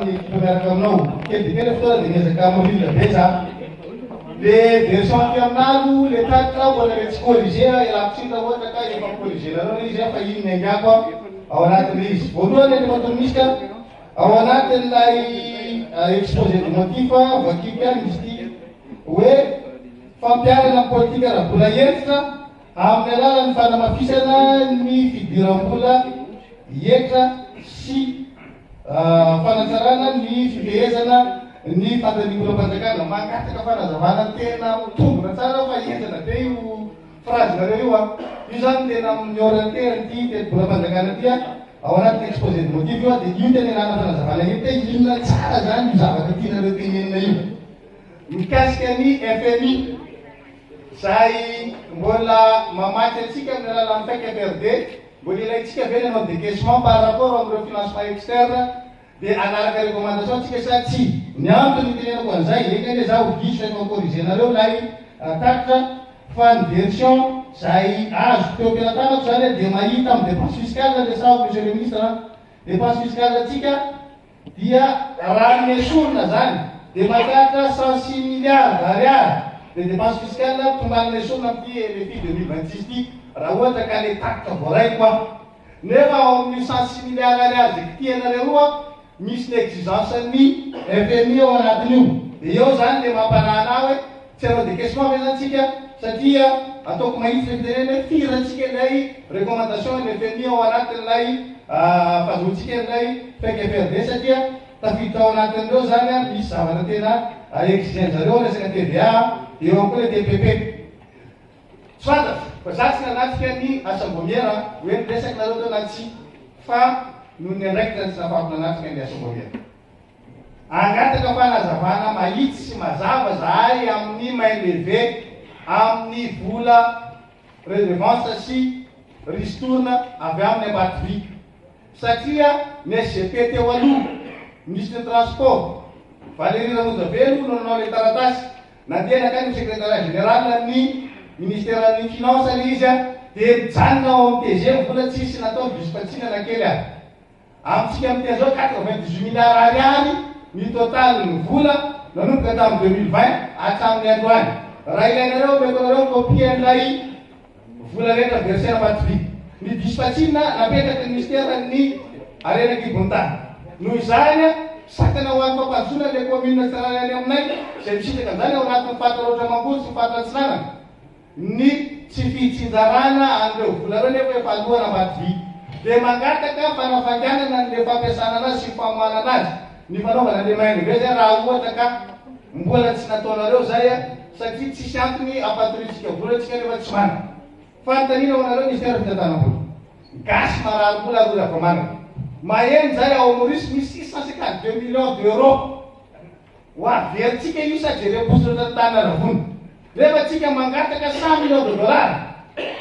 ny miaraka aminao kely dia kely ny fotoana dia miezaka mirindra be za le version aty aminalo le titre aho mbola le tsy corrigé a ialako tsiny raha ohatra ka efa corrigé nareo le izy a fa iny ny angiako a ao anatin'ilay izy voalohany efa tonomisika ao anatin'ilay exposé de motif vakiko ihany misy ity hoe fampiharana politika raha mbola hentitra Amin'ny alalan'ny fanamafisana ny fidiram-bola hetra sy fanatsarana ny fifehezana ny fatanimoram-panjakana. Mangataka fanazavana tena ho tombina tsara aho fa henjana be io phrase-nareo io an! Io izany no tena mi-orienter an'ity tetibolam-panjakana ity an! Ao anatin'ny exposé de motif io an! Dia io tena ilana fanazavana io hoe inona tsara izany io zavatra tianareo tenenina io mikasika ny FMI. Izay mbola mamatsy antsika amin'ny alalan'ny Fake FRD, mbola ilaintsika ve ny hanao décaissement par rapport amin'ireo financement externe dia hanaraka recommandation tsika sa tsia? Ny antony itenenako an'izay, eny anie za ho diso rehefa mi-corriger-nareo ilay tatitra, fa ny version izay azoko teo am-pelatanako izany dia mahita amin'ny dépense fiscale le sao Monsieur le Ministre an, dépense fiscale tsika, Dia raha ny esorina zany dia mahatratra cent six milliards d'ariary de dépense fiscale tombanina esorina amty RFI deux mille vingt six ty raha ohatra ka le tatitra voaray koa nefa ao aminio cent six milliards ariary zay kitihanareo io an misy ny exigence ny FMI ao anatinio de eo zany le mampanahy anahy hoe Tsy ara-dika sy mamy izany tsika satria ataoko mahitsy ny fitenenana hoe fihirantsika ilay recommandation an'ny fmi ao anatin'ilay fahazoantsika an'ilay fenk FRD satria tafiditra ao anatin'ireo izany ary misy zavatra tena exigen'zareo ny resaka TVA eo ihany koa ilay TPP. Tsy fantatro fa za tsy nanatrika ny asambômiera hoe niresaka nareo teo na tsia fa noho ny andraikitra ny tsy nafahako nanatrika ny asambômiera. Hangataka fanazavana mahitsy sy mazava zahay amin'ny main leve amin'ny vola redevance sy ristourne avy amin'ny Ambatovy satria ny SGP teo aloha minisitry ny transport Valery Ramonjavelo no nanao ilay taratasy nandeha nankany amin'ny secretariat général ny ministeran'ny finance ilay izy dia mijanona ao amin'ny TG ny vola tsisy natao diso-fatsiana na kely ary Amintsika amin'ity izao quatre-vingt-dix-huit milliards ariary ny totalin'ny vola nanomboka tamin'ny deux mille vingt hatramin'ny androany. Raha ilainareo omeko anareo ny copien'ilay vola rehetra verser na bato vy. Ny dispatchinina napetraky ny minisiteran'ny harena an-kibon'ny tany. Noho izany, sakana ho an'ny fampandrosoana an'ilay kaominina tsirairay any aminay izay misitraka an'izany ao anatin'ny faritra Raotra Mangoro sy ny faritra Atsinanana. Ny tsy fitsinjarana an'ireo volana anefa efa aloa nambady vy dia mangataka fanafainganana an'ilay fampiasana anazy sy famoahana anazy ny fanaovana an'ilay mainga ve zay raha ohatra ka mbola tsy nataonareo izay satria tsisy antony hampatoriantsika vola tsika nefa tsy manana. Fanontaniana ho anareo Minisitera Fitantanam-bola. Gasy marary mbola ary ho ravamanana. Maheno izay ao Maurice misy six cent cinquante deux millions d'euros Ho avy antsika io sady ireo mpisondrotry ny tany Aravona. Rehefa antsika mangataka cent millions de dollars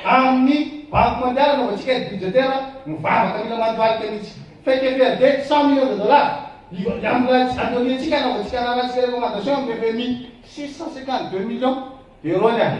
amin'ny banque mondiale anaovantsika aide budgétaire mivavaka mila mandohalika mihitsy. Fake FRD cent millions de dollars hiambolatsy adonneantsika anaovantsika raharahantsika recommandation amin'ny FMI. Six cent cinquante deux millions d'euros ny ahy.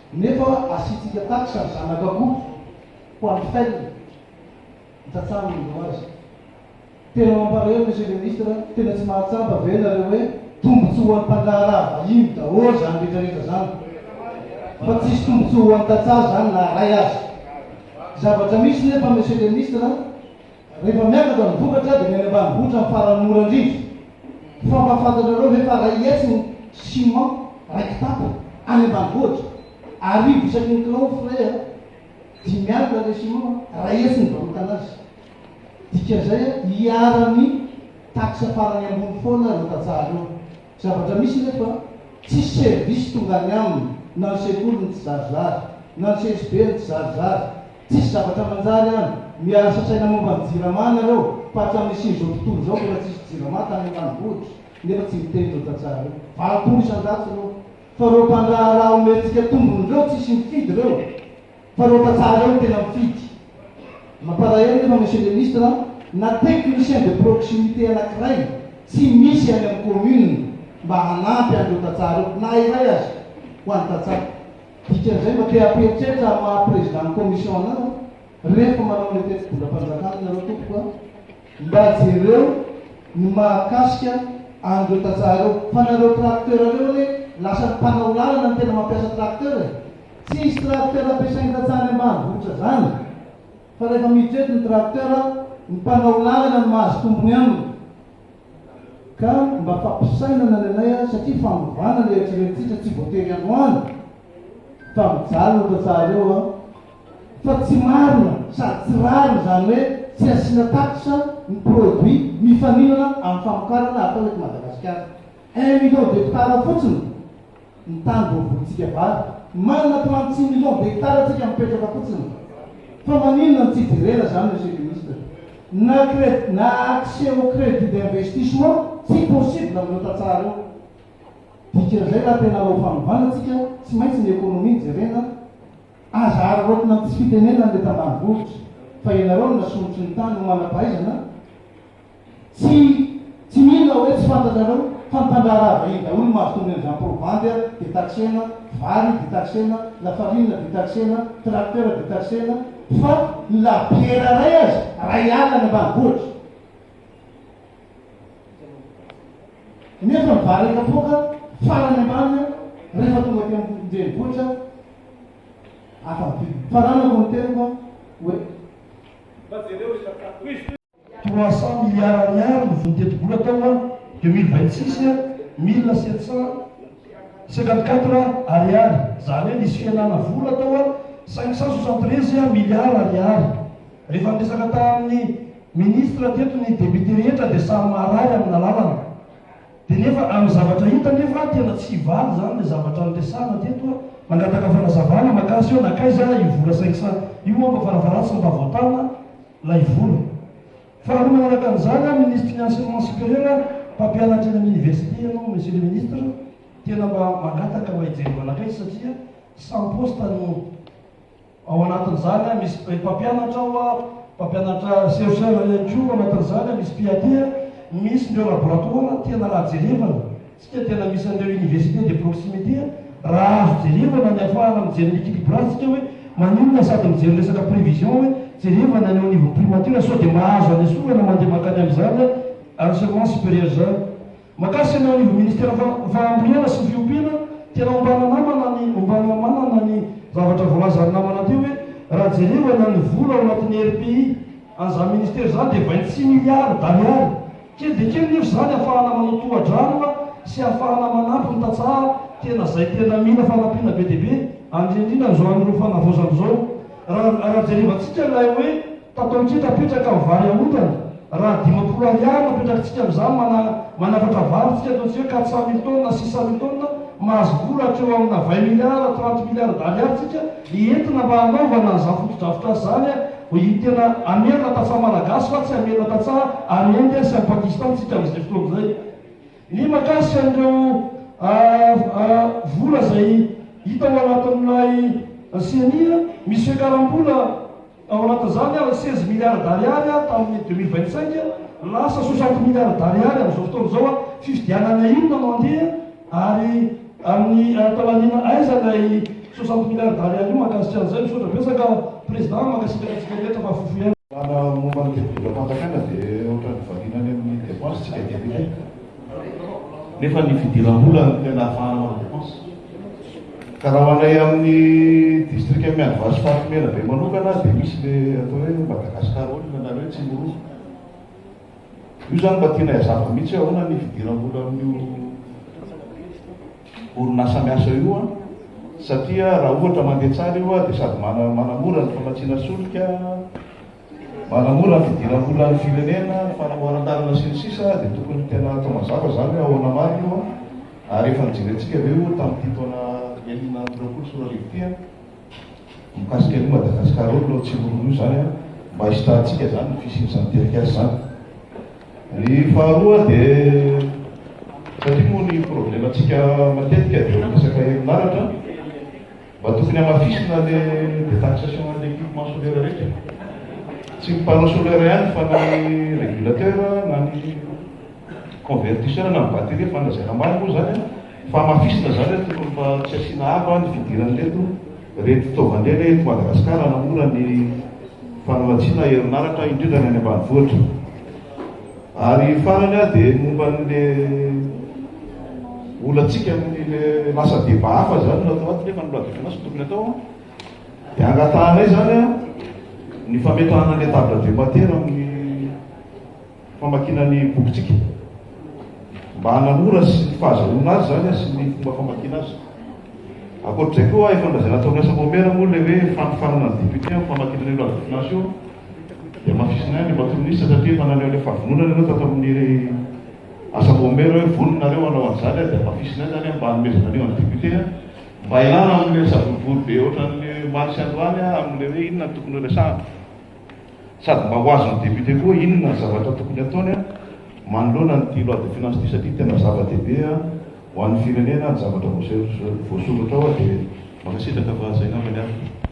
Nefa asiantsika taxe ny zanak'akoho ho an'ny fel, ny tantsaha no mino azy. Tena mampareo Monsieur le Ministre, tena tsy mahatsapa ve nareo hoe tombotsoa ho an'ny mpandraharaha vahiny daholo zany retraretra zany fa tsisy tombotsoa ho an'ny tantsaha zany na ray aza. Zavatra misy nefa Monsieur le Ministre Rehefa miakatra ny vokatra dia ny any ambanivohitra ny farany mora indrindra. Fa mahafantatrareo ve fa iray hetsy ny ciment iray kitapo any ambanivohitra? Arivo isaky ny kilao frais a! Dimy alina ilay ciment a! Iray hetsy ny nivarotana azy. Dikan'izay a, iharan'ny taxe farany ambony foana ireo tantsaha ireo. Zavatra misy anefa, tsisy service tonga any aminy, na ny sekoly ny tsizarizary, na ny CSB ny tsizarizary. Tsisy zavatra manjary any. Miarasa saina momba ny jirama nareo fa hatramin'ny nisian'izao tontolo izao mbola tsisy jirama tany ambanivohitra nefa tsy miteny ireo tantsaha ireo. Valopolo isan-jato ireo fa ireo mpandraharaha omentsika tombony ireo tsisy mifidy ireo fa ireo tantsaha ireo no tena mifidy. Mampalahelo nefa Monsieur le Ministre an, na technicien de proximité anakiray tsy misy any amin'ny commune mba hanampy an'ireo tantsaha ireo na iray aza ho an'ny tantsaha. Dikan'izay mba te hampiheritreritra amin'ny maha Président ny Commission anao rehefa manao ilay tetibolam-panjakana ianareo tompoko a! Mba jereo ny mahakasika an'ireo tantsaha ireo fa nareo tracteur reo anie lasa ny mpanao lalana no tena mampiasa tracteur e! Tsisy tracteur ampiasain'ny tantsaha any ambanivohitra zany fa rehefa miditra eto ny tracteur ny mpanao lalana no mahazo tombony aminy Ka mba fampisainana ny anay ary satria fanovana ilay eritreretintsika tsy voatery androany fa mijaly no tantsahareo an! Fa tsy marina sady tsy rariny izany hoe tsy asiana taxe ny produit mifaninana amin'ny famokarana atao eto Madagasikara. Un million d'hectares fotsiny! ny tany voavolintsika vary. Manana plan tsy million de hectare antsika mipetraka fotsiny fa maninona no tsy jerena zany monsieur le ministre. Na cred na accès au credit d'investissement tsy possible amin'ireo tantsaha ireo. Dikan'izay raha tena hanao fanovana tsika tsy maintsy ny économie no jerena. Aza araraotina amin'ny tsy fitenenan'ny eto ambanivohitra fa ianareo no nasondrotry ny tany ho manam-pahaizana. Tsy tsy mila hoe tsy fantatrareo fa ny mpandraharaha vahiny daholo no mahazo tombony amin'izany probandy a, dia taxena, vary dia taxena, lafarina dia taxena, tracteur dia taxena, fa ny labiera iray aza iray alina any ambanivohitra. Nefa ny vary kapoaka farany ambany a, rehefa tonga aty an-drenivohitra afa-mividy. Faranako ny teniko a, hoe. Mba jereo ry Tantsaha. Trois cent milliards ariary ny voly tetibola tao an deux mille vingt six an, mille sept cent cinquante quatre ariary, izany hoe nisy fihenana vola tao an, cinq cent soixante treize milliards ariary. Rehefa niresaka tamin'ny ministra teto ny députés rehetra dia samy marary amina lalana. Dia nefa amin'ny zavatra hita nefa tena tsy hivaly izany ilay zavatra niresahana teto an. Mangataka fanazavana makasy eo, nankaiza io vola cinq cent io an, mba farafaharany tsy mba voatana. lay vola. Faharoa manaraka an'izany aho minisitry ny enseignement supérieur aho, mpampianatra eny amin'ny université ianao monsieur le ministre, tena mba mangataka mba hijery manakaiky satria sans poste no ao anatin'izany aho, misy mpampianatra ao aho, mpampianatra chercheur ihany koa ao anatin'izany aho, misy PAT, misy ireo laboratoire, tena raha jerevana. Tsika dia nandrisa an'ireo universités de proximité raha azo jerevana ny afahana mijery ny liquide bras tsika hoe maninona sady mijery resaka prévision hoe jerevana any ao anivon'ny primature sao dia mahazo any esorana mandeha mankany amin'izany enseignement supérieur izany. Makasitra ny ao anivon'ny ministère fahambolena sy ny fiompiana tena ombana namana ny ombana manana ny zavatra voalazan'ny namana teo hoe raha jerevana ny vola ao anatin'ny RPI an'izany ministère izany dia vingt six milliards d'ariary Kely dia kely nefa izany ahafahana manao tohadraraka sy ahafahana manampy ny tantsaha tena izay tena mila fanampiana be dia be, indrindra indrindra amin'izao an'ireo fanavaozana izao. Raha raha jerevantsika ilay hoe tatao kely apetraka amin'ny vary aondrana, raha dimampolo ariary no apetrakintsika amin'izany mana manafatra vary tsika ataontsika hoe quatre cent mille tonnes na six cent mille tonnes, mahazo vola hatreo amina vingt milliards, trente milliards d'ariary tsika entina mba hanaovana an'izany fotodrafitrasa izany. Hoy izy, Tena hamerina tantsaha Malagasy fa tsy hamerina tantsaha any Inde sy any Pakistan tsika amin'izay fotoana izay. Ny mahakasika an'ireo vola izay hita ao anatin'ilay ceni, misy fiakaram-bola ao anatin'izany ary seize milliards d'ariary tamin'ny deux mille vingt cinq, lasa soixante milliards d'ariary amin'izao fotoana izao. Fifidianana inona no handeha? Ary amin'ny ampalaniana aiza ilay soixante milliards d'ariary io mankasitra an'izay? Misaotra betsaka Président, mankasitraka antsika rehetra fa fofo ihany. Raha ny momba ny fidindram-panjakana dia ohatran'ny variana any amin'ny dépenses tsika députés nefa ny fidiram-bola no tena afahana manao dépenses. Ka raha ho anay amin'ny district Miandovazo Faritra Menabe manokana dia misy le atao hoe Madagascar Oil nareo tsy mirona. Io zany mba tianay azava mihitsy hoe ahoana ny fidiram-bola amin'io orinasa miasa io an! Satria raha ohatra mandeha tsara io dia sady manamora ny famatsiana solika, manamora ny fidiram-bolan'ny firenena, ny fanamboaran-dalana sy ny sisa dia tokony tena atao mazava zany hoe ahoana marina io an! Ary efa nijerentsika ve io tamin'ity taona enina amby roapolo sy roa arivo ity an! mikasika an'io Madagascar io aloha tsy orono io zany an, mba hisitrahantsika zany ny fisian'izany tetikasa zany. Ny faharoa dia satria moa ny problème antsika matetika dia resaka herinaratra, mba tokony hamafisina le detaxation an'le equipement solaire rehetra, tsy ny panneau solaire ihany fa na ny régulateur na ny. Convertition na ny batterie efa nolazaina ambany moa izany an, fahamafisina izany hoe tokony fa tsy asiana avo ny fidiran'ireto reto fitaovan-dry anie eto Madagasikara hanamora ny fanamatsiana herinaratra indrindra ny any ambanivohitra. Ary farany an dia ny momba an'le olantsika amin'ile lasa débat hafa izany no atao ato nefa ny loi de finances no tokony atao an, dia angatahanay izany an ny fametrahana an'le table de matière amin'ny famakiana ny bokintsika mba hanamora sy ny fahazahoana azy izany sy ny fomba famakiana azy. Ankoatr'izay koa efa nolazaina tao amin'ny asa Momera moa ilay hoe fanofanana ny député amin'ny famakiana ny loi de finance io dia mafisina ihany Andriamatoa Minisitra satria efa naneho ilay fahavononana ianao tato amin'ny asa Momera hoe vonona nareo hanao an'izany dia mafisina ihany izany mba hanomezana an'io an'ny député mba hialana amin'ilay savorovoro be ohatran'ny omaly sy androany amin'ilay hoe inona no tokony ho resahana. Sady mba ho azon'ny député koa inona ny zavatra tokony ataony an, manoloana an'ity loi de finance ity satria tena zava-dehibe an ho an'ny firenena ny zavatra voasoratra ao an dia mankasitraka fa zay ngambany an.